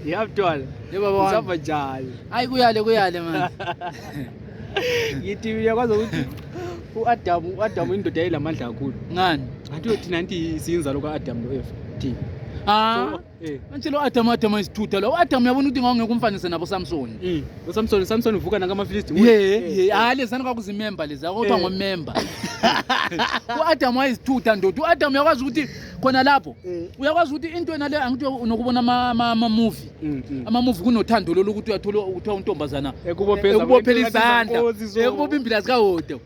Ngiyabuthola. Yebo baba. Usaba njalo. Hayi kuyale kuyale manje. Ngithi uyakwazi ukuthi uAdamu uAdamu indoda eyilamandla kakhulu. Ngani? Ngathi uyothi nanti siyinzalo kaAdamu noEva. Thina. Ah. Eh. Manje lo Adam Adam isithutha lo Adam yabona ukuthi ngawungeke umfanise nabo Samson. Mm. Lo Samson Samson uvuka nanga ama Philistine. Yeah, eh, yeah. Eh. Ah lezani kwakuzi member lezi akuthiwa ngo member. U Adam wayisithutha ndoda. U Adam yakwazi ukuthi khona lapho mm. uyakwazi ukuthi into yena le angithi unokubona ama-movie mm, mm. ama-movie kunothando lolu ukuthi uyathola kuthiwa untombazana ekubophela izandla ekubopha imbila zikawodo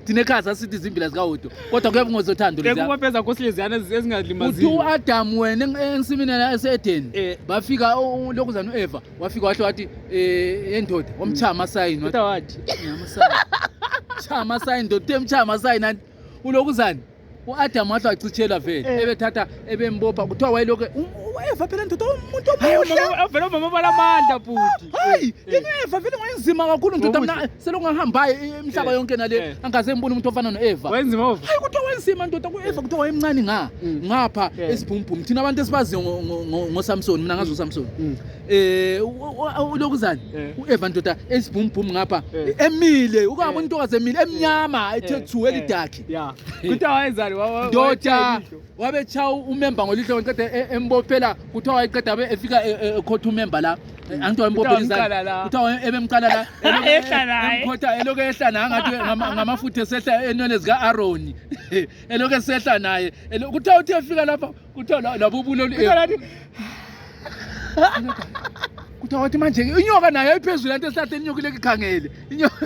thina ekhaya sasithi izimbila zikawodo kodwa kuyabe ngozothando lekubopheza nkosileziyana ezingalimazii uthi u-adamu wena ensimini ese-edeni eh. bafika lokhu zani u-eva wafika wahle wathi um eh, endoda wamchaya amasayini wathi chaya amasayini ndoda uthe mchaya amasayini anti ulokhu zani uAdamu wahle wachitshela vele eh. ebethatha ebembopha kuthiwa wayelokhu wayeva phela ndoda umuntu omuhle umama bala amandla bhuti hayi ingeva vele ngwenzima kakhulu ndoda mina selokhu ngahambayo imihlaba eh, yonke nale eh. angaze ngibone umuntu ofana noEva wenzima hayi kuthiwa wenzima ndoda kuEva kuthiwa wayemncane nga mm. ngapha esibhumbhumi thina abantu esibaziyo ngoSamson mina ngazi uSamson mm. mm. eh ulokuzani uEva ndoda esibhumbhumi ngapha emile ukaba umuntu okaze emile emnyama ethe thu elidakhe ya kuthiwa wayenzani ndoda wabetshawa umemba ngolihlo waqeda e- embophela kuthiwa wayeqeda abe efika e- e- ekhotha umemba la angithi wayembophela izandla wamqala la. kuthiwa waye- ebemqala la elokhu- Ehla naye. emkhotha elokhu ehla naye angathi ngama- ngamafutha esehla enwele zika-aroni elokhu esehla naye Elo- kuthiwa uthe efika lapha kuthiwa la- labo ubuloli Kuthiwa lathi, kuthiwa wathi manje inyoka nayo ayiphezulu anto esihlahleni inyoka ileke ikhangele inyoka